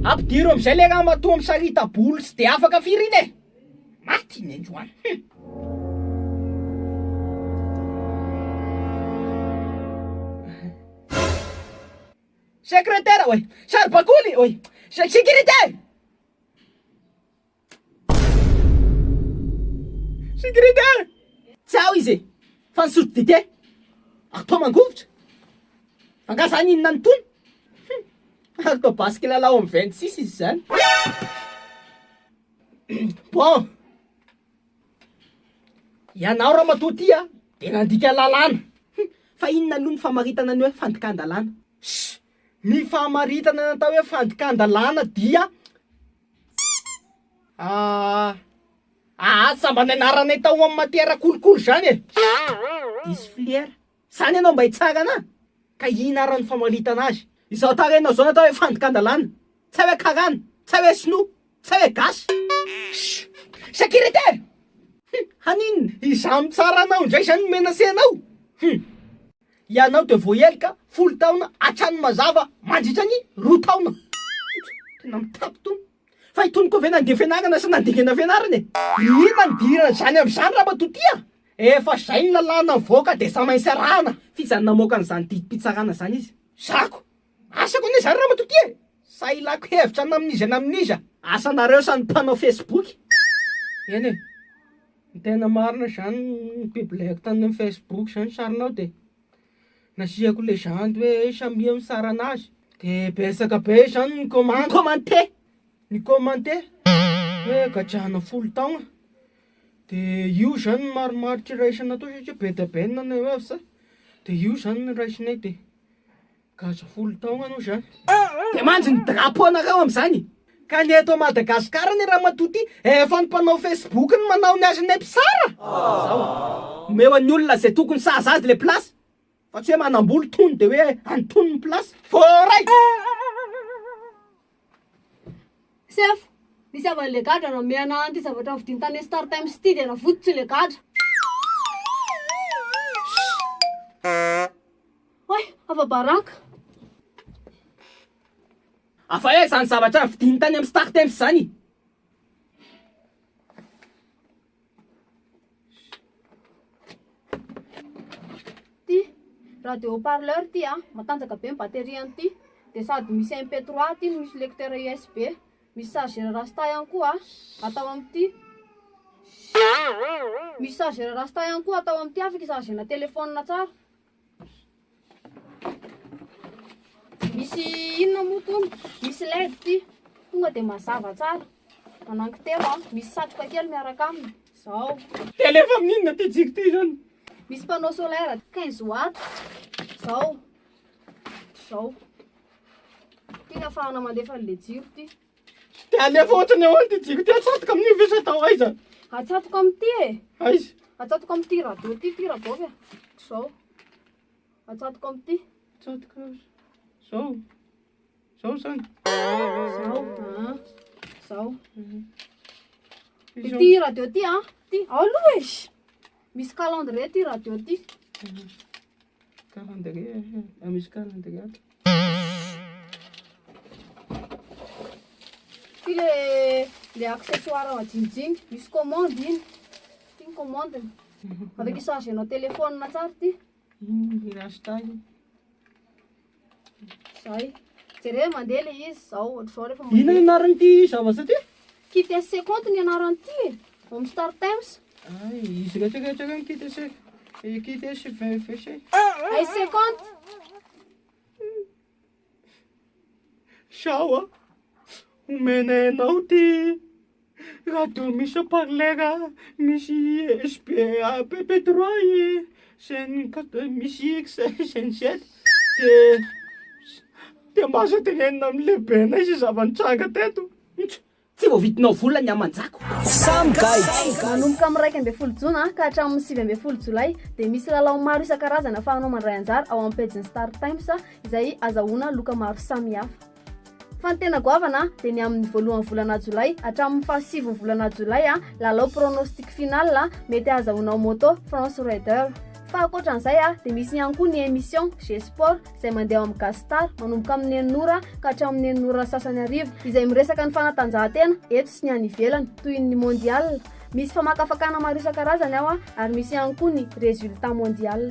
Ampidiro amizay le ramatoa misarita-bolo tsy de afaka firy iny e! Maty i Nenjo an! Hum. Sekretera oe! Saribakoly oe! Sécurité! Sigrid a! Tsy ao izy e! Fa nisotro dite! Ary toa mangovitra! Angaha izany inona no tony? Hum! Ary toa basy kilalao amin'ny vingt six izy izany! Bon! Ianao ramatoa ity an, dia nandika lalàna! Hum! Fa inona aloha ny famaritana ny hoe fandikan-dalàna? Ssy! Ny famaritana ny atao hoe fandikan-dalàna dia. Ahh ahh sa mba ny anaranay tao amin'ny matière kolikoly zany e! Diso filière. Zany ianao mba hitsangana ka ino ara ny famaritana azy? Izao tarehinao zao ny atao hoe fandikan-dalàna. Tsy hay hoe karana, tsy hay hoe sinoa, tsy hay hoe gasy. Shhh! Sécurité! Hum! Haninona? Izaho mitsara anao indray izany mi-menacer anao? Hum! Ianao dia voahelika folo taona hatrany mazava mandritra ny roa taona. Tena mitapy itony. Fa itony koa ve nandeha fianarana sa nandingana fianarana e? Inona no idiran'izany amin'izany Ramatoa Tia? Efa izay ny lalàna mivoaka dia samy hainy sy arahana. F'izany namoaka an'izany didim-pitsarana izany izy? Zako. Asako anie zany ramatoa ty e! sa ilako hevitra namin'iza namin'iza? Asanareo sa ny mpanao facebook? Eny e! ny tena marina zany ny publieko tany amin'ny facebook zany sarinao de nasiako legende hoe samia misara anazy de betsaka be zany ny comment, commenter, ny commenter hoe gadrana folo taogna de io zany ny marimaritra iraisana tao satria be dia be ny nanao hoe avy zay de io zany no raisinay de. Gasy folo taogna anao zany. Dia manjo ny drapeau nareo amizany. Ka ny eto Madagascar anie ramatoa ty efa ny mpanao Facebook no manao ny azy ne mpitsara? Zao a! Omeo an'ny olona ze tokony sahaza azy le place fa tsy hoe manamboly tony de hoe antonony place. Voaray! Sefo, misy avy any le gadra namehana an ity zavatra ny vidiny tany star times ity dia navototsy le gadra. Oay, afa baraka. Afa aiza zany zavatra ny vidiny tany am star times zany? Ity radio haut parleur ity a, matanjaka be ny batterie an'ity dia sady misy MP trois ity no misy lecteur USB, misy chargeur rasta ihany koa atao amin'ity, misy chargeur rasta ihany koa atao amin'ity afaka i chargena telephone tsara. Misy inona moa tony? Misy led ity. Tonga dia mazava tsara. Mananky telo an. Misy satroka kely miaraka aminy. Zao. Tele fa minina ty jiko ty zany. Misy panneau solaire 15 watts. Zao. Zao. Ty afahana mandefa le jiro ty. Dia alefa ohatrany ahoana ity jiro ity? Atsatoka amin'io ve sa atao aiza? Atsatoka amin'ity e! Aiza? Atsatoka amin'ity radio ity, ity rabaovy e! Izao. Atsatoka amin'ity. Atsatoka amin'ity. Izao. Izao izany. Izao. Ah. Izao. Ity radio ity an. Ity. Ao aloha e! Misy calendrier ty radio ty. Calendrier, ah, misy calendrier ato. Ty le le accessoire ao ajinjiny, misy commande iny. Ty ny commande. Avec charge anao téléphone tsara ty. Iny le hashtag. Zay. Jereo mandeha le izy zao ohatr'izao rehefa mandeha. Inona ny anaran'ity zavatra ity? Kitec compte ny anaran'ity e. Home Star Times. Ay, izy raha teo rehetra ireny kitec. Eh, kitec VFC. Ay ce compte. Sao a. Omenay anao ty. Rado misy haut parleur misy USB pp trois i chaine quatre misy x chaine sept de de mba aza tenenina amin'ny lehibenay zay zava-nitranga teto. Tsy voavidinao vola ny aman-jako. Samy gaidry! Manomboka amin'ny iraika ambin'ny folo jona ka hatramin'ny sivy ambin'ny folo jolay dia misy lalao maro isan-karazany ahafahanao mandray anjara ao amin'ny pejin'ny Star Times izay azahoana loka maro samihafa. Fa ny tena goavana dia ny amin'ny voalohan'ny volana jolay hatramin'ny fahasivy ny volana jolay, lalao pronostic final mety ahazahoanao moto France Raider. Fa ankoatra an'izay dia misy ihany koa ny emission G-sport izay mandeha ao amin'ny Gastar manomboka amin'ny enina ora ka hatramin'ny enina ora sasany hariva izay miresaka ny fanatanjahantena eto sy ny any ivelany toy ny mondial. Misy famakafakana maro isan-karazany ao ary misy ihany koa ny resultats mondial.